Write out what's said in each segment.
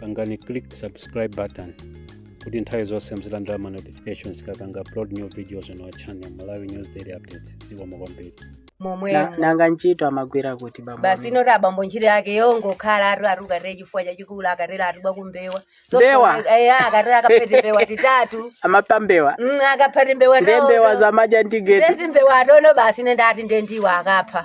pangani click subscribe button kuti nthawi zonse muzilandira ma notifications tikapanga upload new videos on our channel malawi news daily updates zikomo kwambiri Na- momwemo nanga ntchito amagwira kuti bambo basi amene? inetu abambo ntchito yake yongokhala atu ati ukatera chifuwa chachikulu akatera ati bwa kumbewa Mbewa? akatera akaphe timbewa titatu amapambewa Mm, akaphe timbewa ndi mbewa za madya ndi Geti ndeti mbewa atono basi ine ndati ndendiwo akapha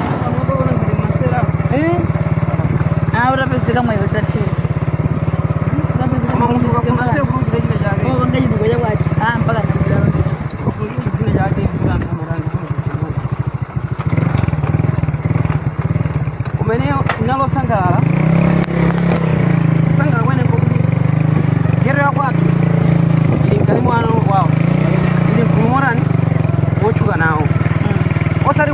Eh? Ah, utapezeka mwayi utathe. Urapezeka mwayo tathe. Oh, wangaji dukoja kwati. Ah, mpaka namira. kumene ndasangalala sangalala kwene nkokuti Geti wa kwathu ili mkati mwa ana wawo ili mgulu momwe ali wotchuka nawo osati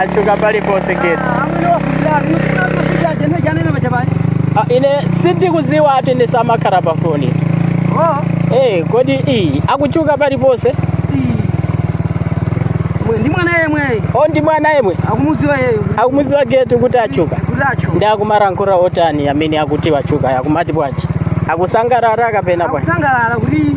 achuka paliponse Geti Ah, ine sindikuziwa eti sindimakhala pa foni Eh, kodi iyi akuchuka paliponse ndi mwana yemweyi o ndi mwana yemwe akumuziwa yeyo akumuziwa Geti kuti achuka kutacho ndi akumalankhula zotani amene akuti wachuka akumati bwanji akusangalala kapena bwanji akusangalala kuti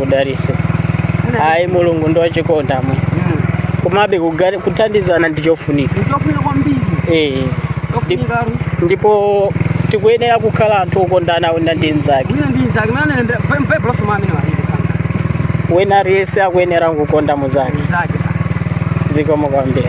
akudalitse ayi mulungu ndi wachikondi amwe komabe kugari- kuthandizana ndi chofunika ndikofunika kwambiri Eh, yofunika ndipo tikuyenera kukhala anthu okondana wina ndi mzake wina ndi mzake wina nde baibulo limati amene walinde kanga wina aliyense akuyenera kukonda mzake mzake zikomo kwambiri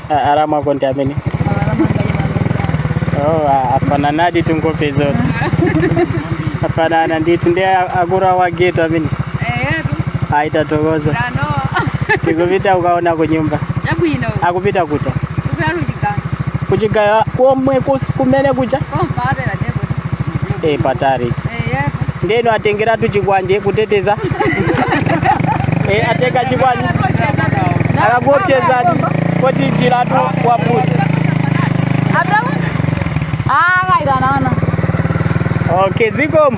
arama konti amene oh, a- afananadi ndithu nkhope zonse afanana ndithu ndi a- akuru ake a Geti amene atitsogoza tikupita kukaona kunyumba yabwino akupita kuta kutalujika kuchigayo komwe kus- kumene kucha komva atela deboti e patari ndeno atengeratu chikwanje kuteteza e, atenga chikwanje akakuopsezani poti njiratu ya patali akaitanaona okay zikomo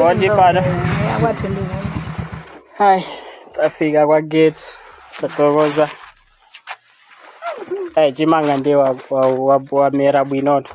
Onde para? Ai, tafika kwa gate. Tatokoza. Ai, chimanga ndiye wa, wa, wa, wa mera bwinoto.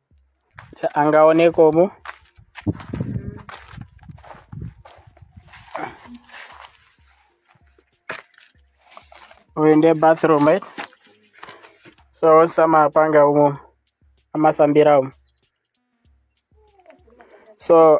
tangoonako umu umu ndiye bathroom right so onse amapanga umu amasambira umu so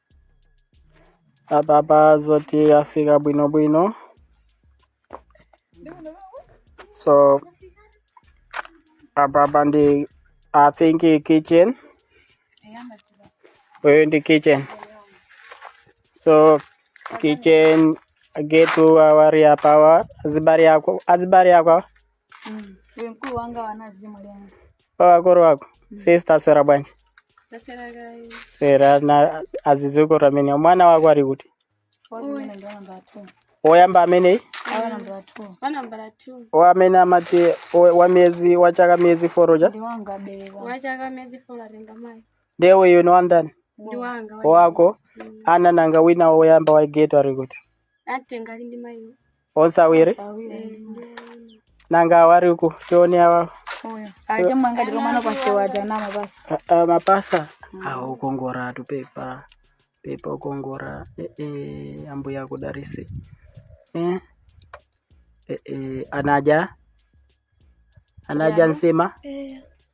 apapa zoti yafika bwinobwino so apapa ndi i think i kitchen uyu ndi kitchen so kitchen getu awari apawa azibari akwa azibari akwa Mm. Uyu mkulu wanga wanazi mulyango. wakoro wako sister aswera bwanji Taswera kaya. swera na zikomo amene mwana wako ali kuti Watu mwana ndio namba 2. woyamba ameneyi Awa namba 2. Wa namba 2. o amene amati o- wa miyezi wa chaka miyezi folo uja Ndi wanga bewa. Wachaka miyezi folo ali kwa mai. ndiye uyu ni wandani Ndi wanga. wako a nanga wina woyamba wa Getu ali kuti Atenga ali ndi mai. onse awiri nanga awari uku tione awa aja mwanga dilo mwana pasi waja nama basi a- a- mapasa awo ukongora atu pepa pepa ukongora eh, eh, ambuya akudarisi eh? eh, eh, anaja anaja nsima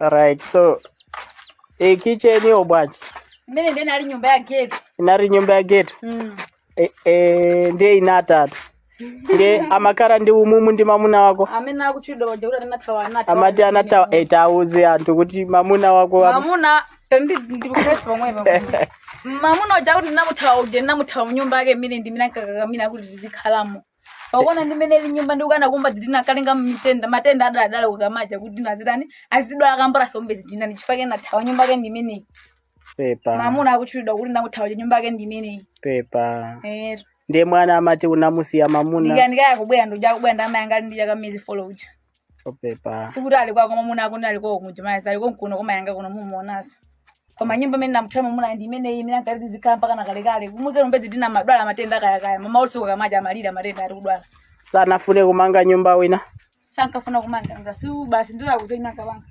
right so e, kitchen yo bwanji mmene ndiye inali nyumba ya getu inali nyumba ya getu mm. e, e, ndiye inatatu ndiye amakhala ndi umumu ndi mamuna wako amene akutchulidwa paja kuti anathawa anati amati anathawa e, tauze anthu kuti mamuna wako am- mamuna ndikukhesi pamwepa mamuna uja kuti ndinamuthawa uja ndinamuthawa mnyumba yake imene ndi imene ankakakamira kuti tizikhalamo pakuona ndi mmene ili nyumba ndi ukana kumba zidina kalenga mitenda matenda adwala adwala kukamacha kuti nazidani azidwala kambora sombe zidina ndi chifukwa chake ndathawa nyumba yake ndi imene pepa mamuna akuchulidwa kuti ndakuthawa nyumba yake ndi imene pepa eh ndiye mwana amati unamusiya mamuna ndikanika yakubwera ndi uja kubwera ndi amayi anga ndi chaka miezi folo uja oo pepa sikuti ali kwako mwamuna akuti ali kwako kunja mayi ali kwako kuno kwa mayi anga kuno mumuonanso koma nyumba imene namuthawa mwamuna ndi imene imene ankati tizikhala mpaka na kalekale kumudzera mbedzi dina madwala matenda akayakaya mama usiku kukamacha amalira matenda ali kudwala sanafune kumanga nyumba ina sankafuna kumanga ngasi basi ndira kuzoina kabanga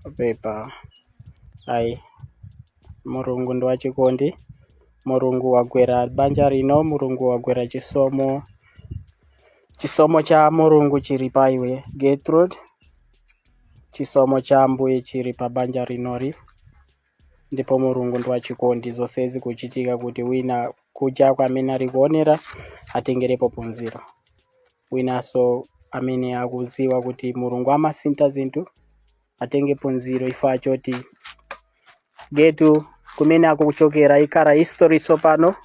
oo pepa ayi mulungu ndi wachikondi mulungu wagwera banja lino mulungu wagwera chisomo Chisomo cha Mulungu chili pa iwe Gertrude. Chisomo cha Ambuye chili pa banja linoli. Ndipo Mulungu ndi wachikondi zonse zikuchitika kuti wina kunjako amene ali kuonera atengerepo phunziro. Winanso amene akudziwa kuti Mulungu amasintha zinthu atenge phunziro chifukwa choti getu kumene akuchokera ikhala history tsopano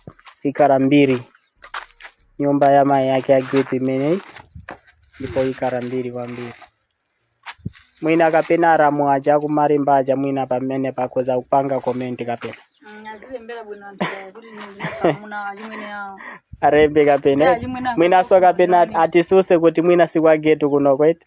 ikhala mbiri nyumba ya mayi yake ya getu imeneyi ndipo ikhala mbiri kwambiri mwina kapena alamu aja aku Malimba aja mwina pamenepa akhoza kupanga komenti kapena azilembere bwino anthu aya kuti ndinamuna achimwene awo alembe kapena Yeah, chimwene mwinanso akakhala kapena kuti- atitsutse kuti mwina si kwa getu kuno kwete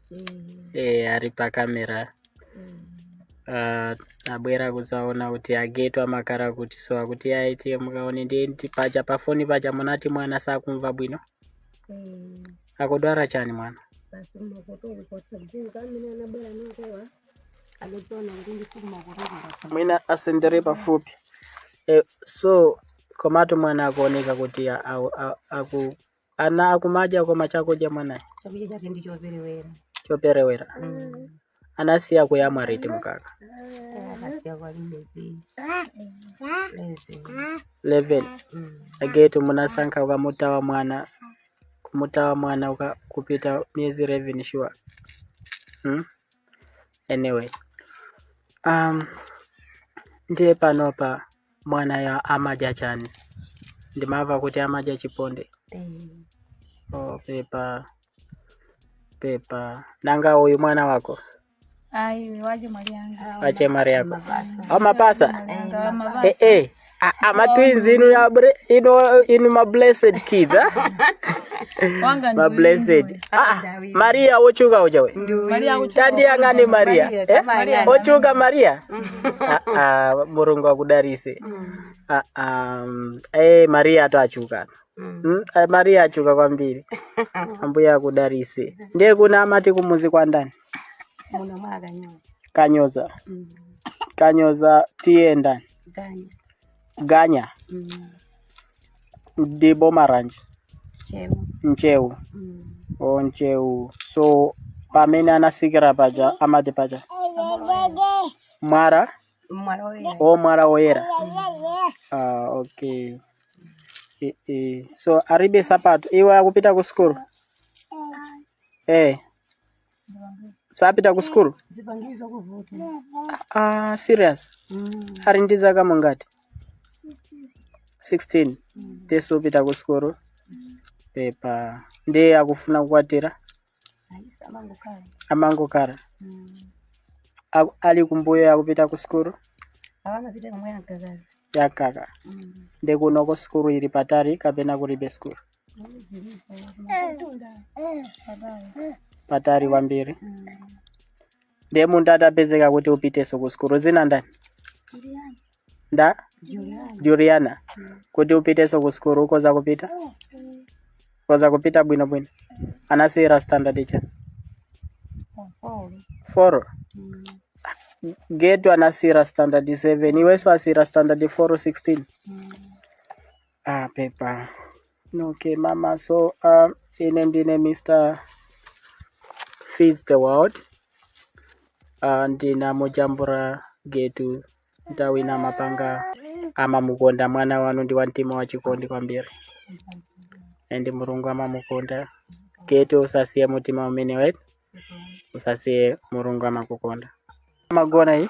e, ali pakamera Ah, abwera kudzaona kuti a getu amakhala kuti so akuti ayi tiye mukaone ndiyetu paja pafoni paja munati mwana sakumva bwino akudwala chani mwana basi makoto ulikosa mzinga amene anabwera nangowa anotona kuti ndifuna makoto ulikosa mwina asendere pafupi e, so komatu mwana akuoneka kuti a- a- a- aku ana akumadya koma chakudya mwanayo chakudya chake ndi choperewera choperewera anasiya kuyamwa liti mkaka akasiya kwalibe zii miyezi 11 agetu munasankha ukamutawa mwana kumutawa mwana uka, kupita miyezi 11 sure hmm? anyway um, ndiye panopa mwanayo amadya chani ndimava kuti amadya chiponde Mm. oh, pepa pepa nanga uyu mwana wako ayi uyu wa chemwali yanga wa chemwali wako amapasa mwali yanga wa mapasa eh, eh. A- ama twins inu ya bre- inu inu ma blessed kids ah? wanga ma ndi blessed ah, ah. mariya wochuka uja we Maria kuchukua. tandiyang'ane mariya Maria, Eh? Maria. wochuka mariya Ah, ah, mulungu akudarise Ah, ah, mm, eh, mariya atu achuka Mm, eh, mariya achuka kwambiri ambuye akudarise ndiye kuna amati kumuzi kwa ndani Muna mwaga nyuma. kanyoza kanyoza tiye ndani Ganya. ganya Mm. ndi boma lanji Ntcheu. Ntcheu Mm. o Ntcheu so pamene anatsikira paja amati paja mwala Mwala woyera. o mwala woyera ah, okay e, e. so alibe nsapato iwe akupita ku sukulu eh sapita ku sukulu zipangizo kuvuta ah, serious ali ndi zaka mungati 16 ndiye supita ku sukulu pepa ndiye akufuna kukwatira ayinso amangokhala amangokhala Aku- ali kumbuyo akupita ku sukulu akamapita komwe ankakazi yakhala ndi kunoko sukulu ili patali kapena kulibe sukulu patali kwambiri ndiye munthu atapezeka kuti upitenso ku sukulu dzina ndani nda juliana kuti upitenso ku sukulu ukhoza kupita khoza kupita bwino bwino anasiyira standard cha four getu anasiyira standard 7 iwenso wasiyira standard 4 16 Ah, pepa. Okay, mama. So, um, ine ndine Mr. Feeds the World, ndinamujambula Getu, nthawi inamapanga, amamukonda mwana wanu ndi wa mtima wa chikondi kwambiri and mulungu amamukonda getu usasiye mtima umenewetu usasiye mulungu amakukonda amagona iyi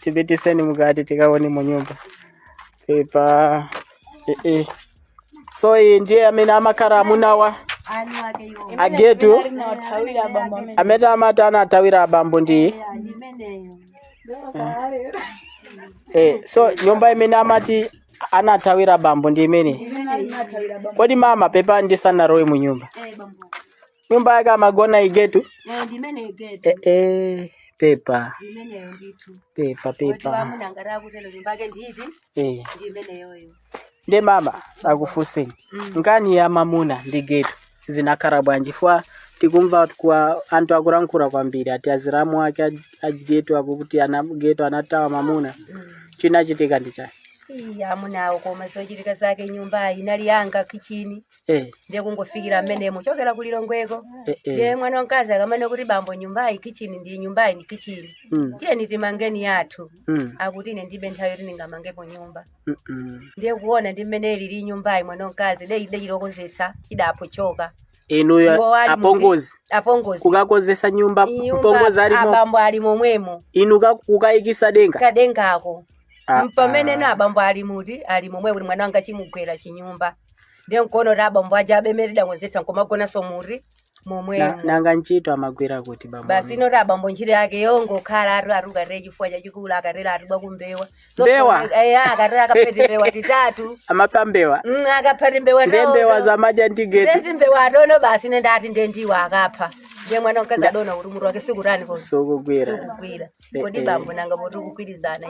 tipitiseni mkati tikaone mu nyumba pepa eh, eh. so iyi ndiye amene amakhala amunawa agetu Thawira bambo amene amene amati anathawira abambo ndi iyi imeneyo. eh, so nyumba imene amati anathawira bambo ndi imene Imeneyo inathawira bambo. kodi mama pepa ndisanalowe mu nyumba Eh bambo. nyumba yake amagona igetu Eh, ndimene igetu eh, eh, pepa ndimeneyo ndithu pepa wati pepa wamuna ngati akutero nyumba yake nditi eh. ndimeneyoyo nde mama ndikufunseni nkani ya mamuna ndi getu zinakhala bwanji fwa tikumva kwa anthu akulankhula kwambiri ati aziramu ake a- a getu akuti ana getu anathawa mamuna chinachitika ndi chani iya amunawo koma zochitika zake nyumbayi inali yanga kichini Eh, ndiye kungofikira mmene munachokera ku lilongweko eh, eh. ndiye mwana wamkazi akamane kuti bambo nyumbayi kichini ndi nyumbayi ndi kichini Mm, tiyeni timange yathu mm, akuti ine ndibe nthawi yoti ndingamangepo nyumba mm, mm. ndiye kuona ndi mmene ilili nyumbayi mwana wamkazi de ide chilokozetsa idapho choka inuyo Iwo ali apongozi muvi- apongozi kukakonzetsa nyumba Nyumba mpongozi alimo abambo ali momwemo inu ka- kukayikisa denga kadengako Ah, mpamene ah. nanga abambo ali kuti ali momwemo kuti mwana wanga chimugwere chinyumba ndiye nkuona kuti abambo aja apemere ndakonzetsa nkumagonanso muti Na- momwemo nanga ntchito amagwira kuti bambo basi amene? inotu abambo ntchito yake yongokhala ati akatero chifuwa chachikulu akatero atipwa kumbewa Mbewa? akatero akaphe timbewa titatu amapha mbewa Mm, akaphe timbewa nde tawo mbewa tawo. zomadya ndi getu Nde timbewa adona basi ine ndati nde ndiwo akapha ndiye mwana mkazi adaona kuti mutu wake sukutani ko sukugwira sikugwira kodi Eh, eh. bambo nanga poti kugwirizana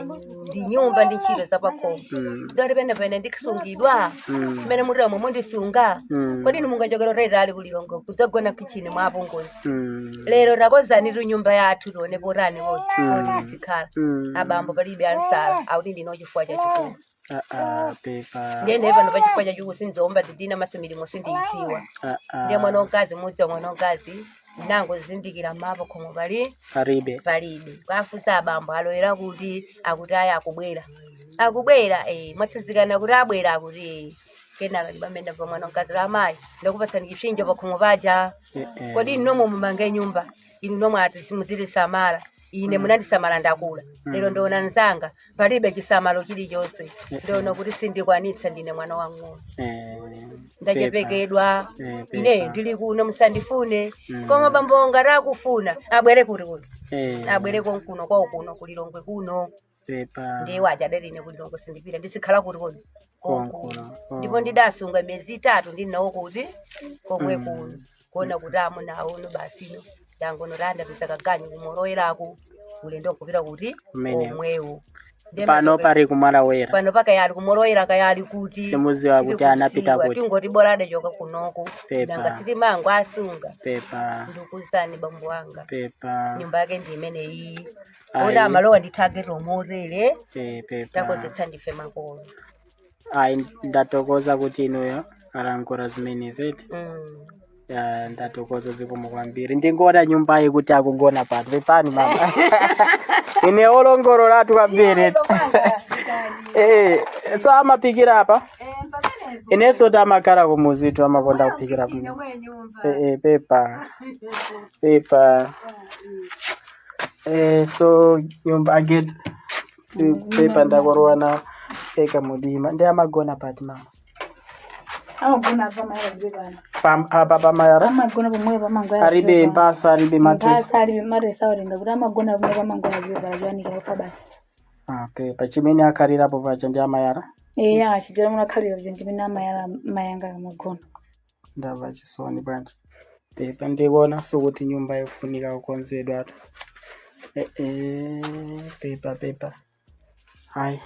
ndi nyumba ndi ntchito zapakhomo Mm. zoti pena pena ndikusungidwa Mm. mmene mutira momwe mundisunga Mm. kodi inu mungachokera kutalitali kulilongwe kudzagona kichini mwa apongozi Mm. lero takonzanitu nyumba yathu tione potani woti tidzikhala Mm. abambo palibe ansala akuti ndina chifuwa chachikulu Ah, ah, pepa ndiye naye pano pachifuwa chachikulu sindiumba zidina masimilimo sindiyidziwa Ah, ah. ndiye mwana wamkazi mudzi wa mwana wamkazi ndinangozindikira ma pakhomo pali paribe palibe kuwafunsa abambo aloyera kuti akuti ayi akubwera akubwera eh, mwatsinzikana kuti abwera akuti eh. kenaka ndipamene pa mwana wamkazi la amayi ndakupatsani chipsinjo pakhomo paja Eh, eh. kodi inu nomwe mumange nyumba inu nomwe ati simudziti- samala ine munandisamala ndakula lero ndiona nzanga palibe chisamalo chilichonse ndiona kuti sindikwanitsa ndine mwana wang'ono ndachepekedwa Eh, pepa. ineyo ndili kuno musandifune koma bambo ngati akufuna abwere kuti kuno abwere konkuno kwawo kuno kulilongwe kuno pepa ndiye waja adali ine kulilongwe sindipita ndizikhala kuti kodi Konkuno, konkuno oh. ndipo ndidasunga miyezi itatu ndili nawo kuti komwe Mm. kuno kuona kuti amunawo basino adangonena ndapeza kaganyu kumaloyeraku ulendo nkupita kuti Kumeneko. omwewo Ndiye pano mazope- pari kumalawera pano pakayali kumoloyera kayali kuti Simudziwa kuti sitikudziwa, anapita kuti. tingoti bola adachoka kunoko Pepa. nanga sitimangowasunga pepa ndikuuzani bambo wanga pepa nyumba yake ndi imeneyi Ayi. oti amalowa ndi target omotele Eh, pepa takozetsa ndife makolo ayi ndatokoza kuti inuyo mwalankhula zimenezi Mm. Ya, ndatokoza zikomo kwambiri ndingoona nyumbayi kuti akugona pano pepani mama ine olongololatu kwambiri Eh, so amapikira apa inenso timakhala kumudzitu amakonda kuphikira kuno Eh, eh, pepa pepa Eh, so nyumba aged pepa ndalowa nawo eka mumdima ndi amagona pati mama amagona apa amayala zibana Pam- apa pamayala amagona pomwe pamangoya alibe mphasa alibe matresi mphasa alibe matresi awatenga kuti amagona pomwe pamangoya zibana zoyanikira ufa basi okay pachimene akhalirapo pacha ndi amayala eya achijera muno akhalira kuti ndimene amayala mayanga amagona ndamva chisoni bwanji pepa ndikuonanso kuti nyumba yofunika kukonzedwa Eh, eh, pepa pepa hayi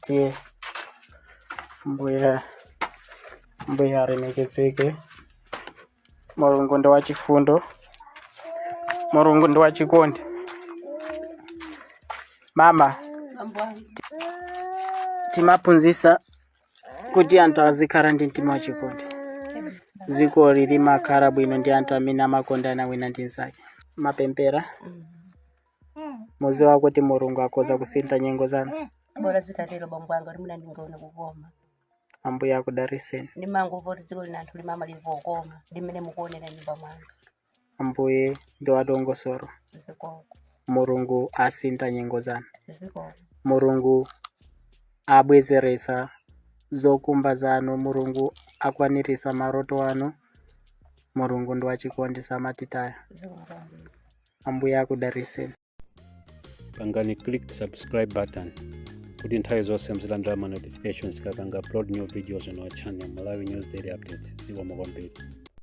tiye mbuya mbuya alemekezeke mulungu ndi wachifundo mulungu ndi wachikondi mama timaphunzitsa kuti anthu azikhala ndi mtima wachikondi dzikoli limakhala bwino ndi anthu amene amakondana wina ndi mnzake mapemphero mudziwa kuti mulungu akhoza kusintha nyengo zanu bola zitatero bambo anga kuti muna ndingaone kukoma ambuye akudalitseni ndimangomva kuti dziko lina anthu limamveka lokoma limene mukuonera nyumba mwanga Ambuye ndi wadongosolo. Mulungu asintha nyengo zanu. Mulungu abwezeretsa zokhumba zanu. Mulungu akwaniritsa maloto anu. Mulungu ndi wachikondi samatitaya. Ambuye akudalitseni. Pangani click subscribe button kuti nthawi zonse muzilandira ma notifications tikapanga upload new videos on our channel Malawi News Daily Updates. Zikomo kwambiri.